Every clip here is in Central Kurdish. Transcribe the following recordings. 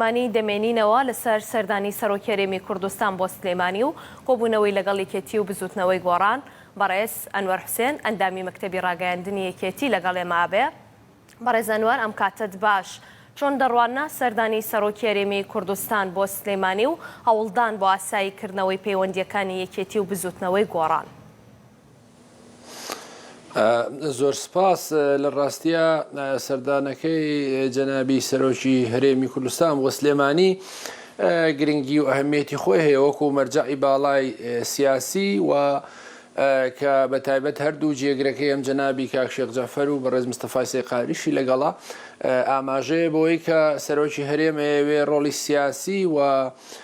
مانی دەمێنینەوە لەسەر سەردانی سەرۆکی هەرێمی کوردستان بۆ سلێمانی و کۆبوونەوەی لەگەڵ یەکێتی و بزووتنەوەی گۆڕان، بەڕێز ئەنوەر حوسێن، ئەندامی مەکتەبی ڕاگەیاندنی یەکێتی لەگەڵ ئێمە ئەبێ. بەڕێز ئەنوەر ئەم کاتەت باش چۆن دەڕواننە سەردانی سەرۆکی هەرێمی کوردستان بۆ سلێمانی و هەوڵدان بۆ ئاسایی کردنەوەی پەیوەندییەکانی یەکێتی و بزووتنەوەی گۆڕان؟ زۆر سپاس لە ڕاستە سەردانەکەی جەنابی سەرۆکی هەرێمی کوردستان بۆ سلێمانی گرنگی و ئەهمیەتی خۆی هەیە وەکو مەرجعی باڵای سیاسی و کە بە تایبەت هەردوو جێگرەکەی ئەم جەنابی کاکشێق جەفەر و بەڕێز مستەفای سێقاریشی لەگەڵا ئاماژەیە بۆی کە سەرۆکی هەرێمەیەوێ ڕۆڵی سیاسی و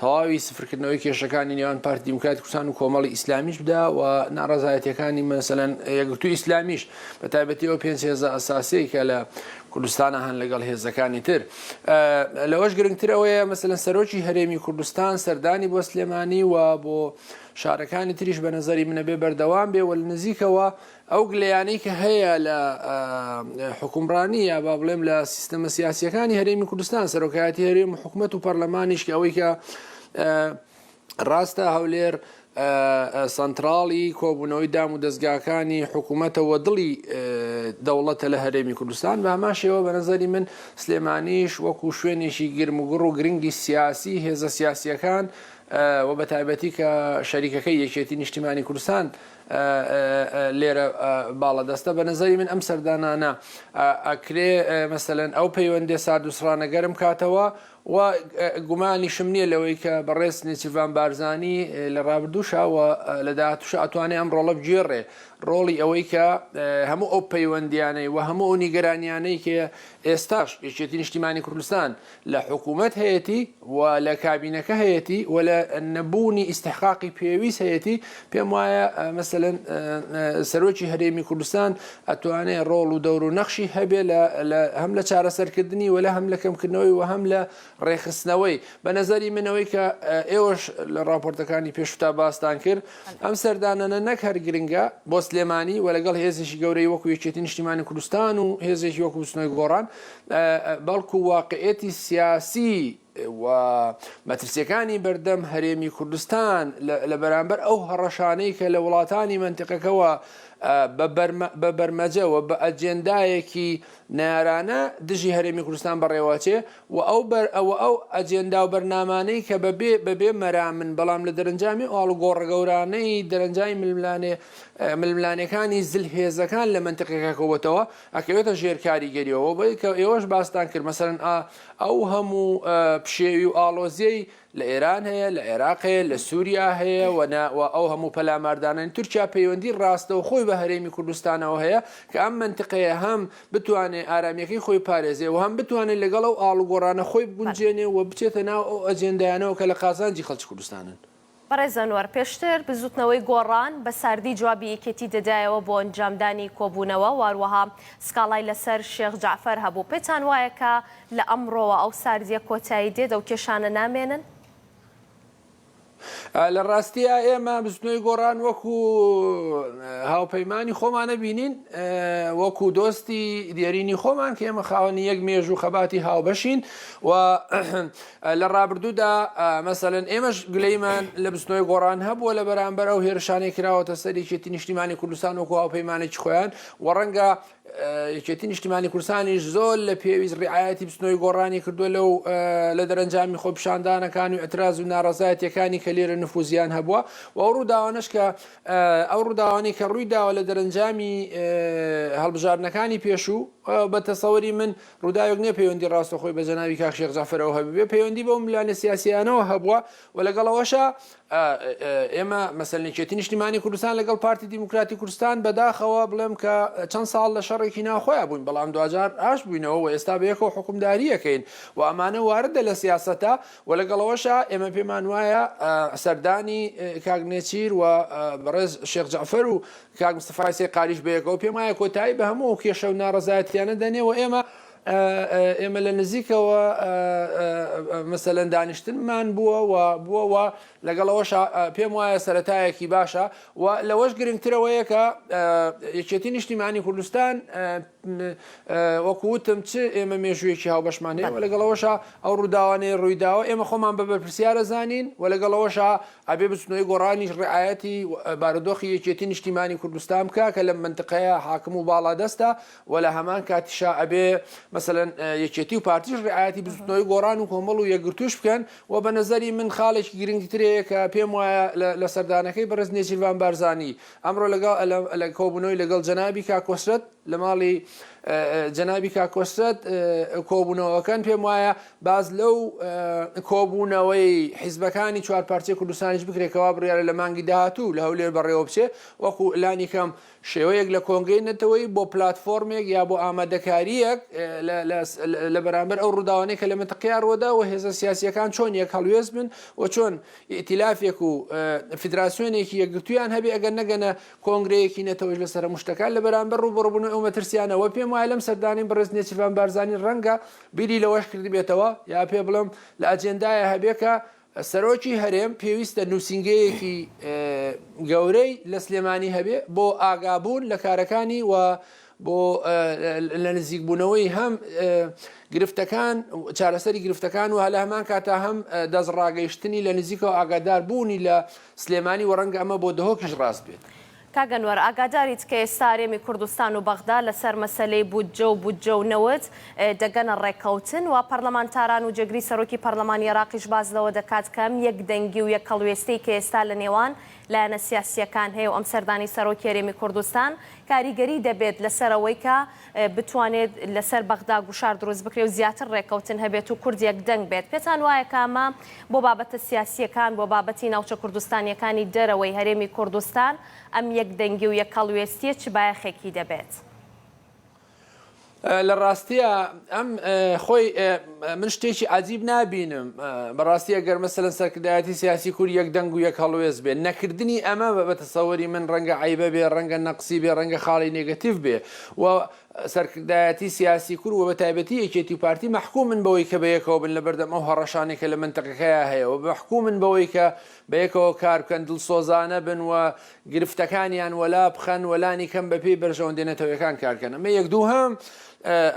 تەواوی سفرکردنەوەی کێشەکانی نێوان پارتی دیموکراتی کوردستان و کۆمەڵی ئیسلامیش بدا و ناڕزایەتەکانی مەسەن یەکگرتو ئیسلامیش بە تایبەتیەوە پێنج هێزە ئەساسی کە لە کوردستانە هەن لەگەڵ هێزەکانی تر لەوەش گرنگترەوەیە مەسەن سەرۆکی هەرێمی کوردستان سەردانی بۆ سلێمانی و بۆ شارەکانی تریش بە نظری منە بێ بەردەوام بێ وە نزیکەوە ئەو گلەیانەی کە هەیە لە حکومڕانی یا با بڵێم لە سیستەمە سیاسیەکانی هەرێمی کوردستان سەرۆکایەتی هەرێم حکوومەت و پەرلەمانیش کە ئەوەی کە ڕاستە هەولێر سنتراڵی کۆبوونەوەی دام و دەستگاکانی حکوومەتەوە دڵی دەوڵەتە لە هەرێمی کوردستان بە هەمان شێوە بە نظری من سلێمانیش وەکو شوێنێکی گرمگوڕ و گرنگی سیاسی هێزە سیاسیەکان و بە تایبەتی کە شەریکەکەی یەکێتی نیشتیمانی کوردستان لێرە باڵەدەستە بە نەزەری من ئەم سەردانانە ئەکرێ مەسەلەن ئەو پەیوەندێ ساردوسڕانە گەرم کاتەوە و گومانیشم نییە لەوەی کە بەڕێز نێچیڤان بارزانانی لە ڕابردووشەوە لە داهاتوش ئەتوانێ ئەم ڕۆڵە بگێڕێ ڕۆڵی ئەوەی کە هەموو ئەو پەیوەندیانەی و هەموو ئەو نیگەرانیانەی کە ئێستاش یەکێتی نیشتیمانی کوردستان لە حکومەت هەیەتی و لە کابینەکە هەیەتی و لە نەبوونی ئیسحقاقی پێویست هەیەتی پێم وایە مەسەن سەرۆکی هەرێمی کوردستان ئەتوانێ ڕۆڵ و دەور و نەخشی هەبێ هەم لە چارەسەرکردنی وەلا هەم لە کەمکردنەوەی و هەم لە ڕێخستنەوەی بە نظری منەوەی کە ئێوەش لە راپۆرتەکانی پێشتا باستان کرد ئەم سەردانەنە نەک هەر گرنگە بۆ سلێمانی و لەگەڵ هێزیشی گەورەی وەکو یەکێتی نیشتیمانی کوردستان و هێزێکی وەکو بچنەوەی گۆڕان بەڵکو واقعیەتی سیاسی و مەترسیەکانی بەردەم هەرێمی کوردستان لە بەرامبەر ئەو هەڕەشانەی کە لە وڵاتانی منتقەکەەوە بە بەرمەجەوە بە ئەجێندایەکی نارانە دژی هەرێمی کوردستان بەڕێوەچێ و ئەو بەر ئەوە ئەو ئەجێندا و بەرنامانەی کە بەبێ بەبێ مەرامن بەڵام لە دەرەنجامی ئاڵ گۆڕگەورانەی دەرەنجامی ململانێ ململانەکانی زل هێزەکان لە منتقەکە کەوتەوە ئەکەوێتە ژێر کاریگەریەوە بەوەی کە ئێوەش باستان کرد مەسەلەن ئا ئەو هەموو پشێوی و ئاڵۆزیەی لە ئێران هەیە لە عێراق هەیە لە سووریا هەیە وەنا و ئەو هەموو پەلاماردانانی تورکیا پەیوەندی ڕاستە و خۆی بە هەرێمی کوردستانەوە هەیە کە ئەم منتقەیە هەم بتوانێ ئارامیەکەی خۆی پارێزێ و هەم بتوانێت لەگەڵ ئەو ئاڵوگۆڕانە خۆی بگونجێنێ و بچێتە ناو ئەو ئەجێندایانەوە کە لە قازانجی خەڵکی کوردستانن. بەڕێز ئەنوەر، پێشتر بزوتنەوەی گۆڕان بە ساردی جوابی یەکێتی دەدایەوە بۆ ئەنجامدانی کۆبونەوە، واروەها سکاڵای لەسەر شێخ جەعفەر هەبوو، پێتان وایە کە لە ئەمڕۆوە ئەو ساردیە کۆتایی دێت، ئەو کێشانە نامێنن؟ لە ڕاستیا ئێمە بزوتنەوەی گۆڕان وەکو هاوپەیمانی خۆمان نەبینین، وەکو دۆستی دێرینی خۆمان کە ئێمە خاوەنی یەک مێژوو خەباتی هاوبەشین و لە ڕابردوودا مەسەلەن ئێمەش گلەیمان لە بستنەوەی گۆڕان هەبووە لە بەرامبەر ئەو هێرشانەی کراوەتە سەر یەکێتی نیشتیمانی کوردستان وەکو هاوپەیمانێکی خۆیان و ڕەنگە یەکێتی نیشتیمانی کوردستانیش زۆر لە پێویست ڕعاەتی بستنەوەی گۆڕانی کردووە لەو لە دەرەنجامی خۆپشاندانەکان و ئەتراز و ناڕزایەتەکانی کە لێرە نفوزیان هەبووە و ئەو ڕووداوانش کە ئەو ڕووداوانی کە ڕووی داوە لە دەرەنجامی هەڵبژاردنەکانی پێشوو بە تەسەوەری من ڕووداوێک نیە پەیوەندی ڕاستەخۆی بە جەنابی کاک شێخ جەعفەرەوە هەبووبێ، پەیوەندی بەو ملانێ سیاسییانەوە هەبووە و لەگەڵ ئەوەشا ئێمە مەسەلەن یەکێتی نیشتیمانی کوردستان لەگەڵ پارتی دیموکراتی کوردستان بەداخەوە بڵێم کە چەند ساڵ لە شەڕێکی ناوخۆیان بووین بەڵام دواجار ئاش بووینەوە و ئێستا بەیەکەوە حکومداریەکەین و ئەمانە واردە لە سیاسەتە و لەگەڵەوەشا ئێمە پێمان وایە سەردانی کاک نێچیر و بەڕێز شێخ جەعفەر و کاک مستەفای سێقالیش بەیەکەوە پێم وایە کۆتایی بە هەموو ئەو کێشە و ناڕەزایەتیانە دەنێ و ئێمە ئێمە لە نزیکەوە مەسەلەن دانیشتنمان بووە و بووەوە لەگەڵەوەش پێم وایە سەتایەکی باشە و لەوەش گرنگترەوەیە کە یەکێتی نیشتیمانی کوردستان وەکوتم چ ئێمە مێژوویەکی هاوبەشمانەیە و لەگەڵەوەشە ئەو ڕووداوانەی ڕوویداوە ئێمە خۆمان بە بەرپسیارە زانین و لەگەڵەوەشە ئەبێ بچنۆی گۆڕانیش ڕعایەتی بارودۆخی یەکێتی نیشتیمانی کوردستان بکا کە لەم مەنتقەیە حاکم و باڵادەستە و لە هەمان کاتیشا ئەبێ مەسەلەن یەکێتی و پارتیش ڕعایەتی بزوتنەوەی گۆڕان و کۆمەڵ و یەکگرتووش بکەن و بە نەزەری من خاڵێکی گرنگترەیە کە پێم وایە لە سەردانەکەی بەڕێز نێچیرڤان بارزانی ئەمڕۆ لەگەڵ لە کۆبوونەوەی لەگەڵ جەنابی کاکۆسرەت لە ماڵی جەنابی کاکۆسرەت کۆبوونەوەکەن پێم وایە باس لەو کۆبوونەوەی حیزبەکانی چوار پارچەی کوردستانیش بکرێت کە وا بڕیارە لە مانگی داهاتوو لە هەولێر بەڕێوە بچێت، وەکو لانی کەم شێوەیەک لە کۆنگرەی نەتەوەیی بۆ پلاتفۆرمێک یا بۆ ئامادەکارییەک لە بەرامبەر ئەو ڕووداوانەی کە لە مەنتقەیا ڕووەدا و هێزە سیاسییەکان چۆن یەک هەڵوێست بن و چۆن ئیتیلافێک و فیدراسیۆنێکی یەکگرتوویان هەبێت ئەگەر نەگەنە کۆنگرەیەکی نەتەوەیش لە سەرە مشتەکان لە بەرامبەر ڕووبەڕووبوونەوەی ئەو مەترسییانە وە پێم وایە لەم سەردانەی بەڕێز نێچیرڤان بارزانی ڕەنگە بیری لەوەش کردبێتەوە یا پێ بڵێم لە ئەجێندایە هەبێ کە سەرۆکی هەرێم پێویستە نووسینگەیەکی گەورەی لە سلێمانی هەبێ بۆ ئاگابوون لە کارەکانی و بۆ لە نزیکبوونەوەی هەم گرفتەکان چارەسەری گرفتەکان و هەلە هەمان کاتا هەم دەست ڕاگەیشتنی لە نزیکەوە ئاگادار بوونی لە سلێمانی و ڕەنگە ئەمە بۆ دهۆکیش ڕاست بێت کاک ئەنوەر ئاگاداریت کە ئێستا هەرێمی کوردستان و بەغدا لەسەر مەسەلەی بودجە و بودجە و نەوت دەگەنە ڕێککەوتن و پەرلەمانتاران و جێگری سەرۆکی پەرلەمانی ئێراقیش باس لەوە دەکات کە ئەم یەک دەنگی و یەک هەڵوێستەی کە ئێستا لە نێوان لایەنە سیاسییەکان هەیە و ئەم سەردانەی سەرۆکی هەرێمی کوردستان کاریگەری دەبێت لەسەر ئەوەی کە بتوانێت لەسەر بەغدا گوشار دروست بکرێ و زیاتر ڕێککەوتن هەبێت و کورد یەکدەنگ بێت، پێتان وایە کە ئەمە بۆ بابەتە سیاسییەکان، بۆ بابەتی ناوچە کوردستانییەکانی دەرەوەی هەرێمی کوردستان ئەم یەکدەنگی و یەکهەڵوێستییە چ بایەخێکی دەبێت؟ لە ڕاستیا ئەم خۆی من شتێکی عجیب نابینم بەڕاستی ئەگەر مەسەن سەرکردایەتی سیاسی کور یەک دەنگ و یەک هەڵوێز بێ نەکردنی ئەمە بە بەتەسەوەری من ڕەنگە عیبە بێ ڕەنگە نەقسی بێ ڕەنگە خاڵی نگەتیف بێ و سەرکردایەتی سیاسی کورد و بەتایبەتی یەکێتی و پارتی مەحکومن بەوەی کە بەیەکەوە بن لەبەردەم ئەو هەڕەشانەی کە لە مەنتەقەکەیا هەیە و مەحکومن بەوەی کە بەیەکەوە کار بکەن دڵسۆزانە بن و گرفتەکانیان وەلا بخەن و لانی کەم بەپێی بەرژەوەندیە نەتەوەیەکان کار بکەن ئەمە یەک دووهەم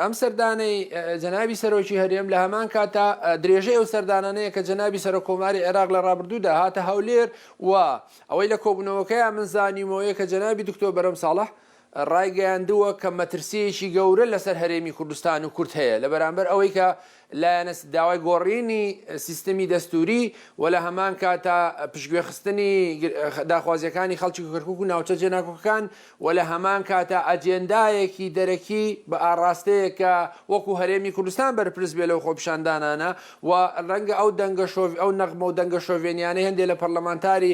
ئەم سەردانەی جەنابی سەرۆکی هەرێم لە هەمان کاتە درێژەی ئەو سەردانانەیە کە جەنابی سەرۆک کۆماری عێراق لە ڕابردوودا هاتە هەولێر و ئەوەی لە کۆبوونەوەکەیان من زانیومەوەیە کە جەنابی دکتۆر بەرەم ساڵح ڕایگەیاندووە کە مەترسییەکی گەورە لەسەر هەرێمی کوردستان و کورد هەیە لە بەرامبەر ئەوەی کە لایەنە داوای گۆڕینی سیستمی دەستووری و لە هەمان کاتا پشتگوێخستنی داخوازییەکانی خەڵکی کەرکووک و ناوچە جێناکۆکەکان و لە هەمان کاتا ئەجێندایەکی دەرەکی بە ئاڕاستەیەک کە وەکوو هەرێمی کوردستان بەرپرس بێ لەو خۆپیشاندانانە و ڕەنگە ئەو دەنگە ئەو نەغمە و دەنگە شۆڤێنییانەی هەندێ لە پەڕلەمانتاری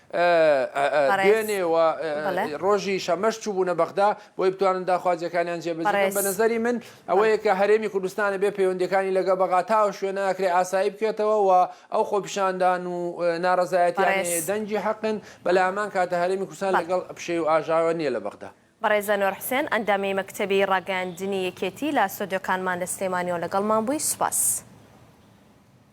دوێنێ و ڕۆژی شەمەش چووبوونە بەغدا بۆی بتوانن داخوازیەکانیان جێبەجێ بکەن بە نەزەری من ئەوەیە کە هەرێمی کوردستانە بێ پەیوەندیەکانی لەگە بەغا تا ئەو شوێنە ئەکرێ ئاسایی بکێتەوە و ئەو خۆپیشاندان و ناڕەزایەتیانەیە دەنگی حەقن بەلای هەمان کاتە هەرێمی کوردستان لەگەڵ پشێوی و ئاژاوە نییە لە بەغدا. بەڕێز ئەنوەر حوسێن، ئەندامی مەکتەبی ڕاگەیاندنی یەکێتی لە ستۆدیۆکانمان لە سلێمانیەوە لەگەڵمان بووی. سوپاس.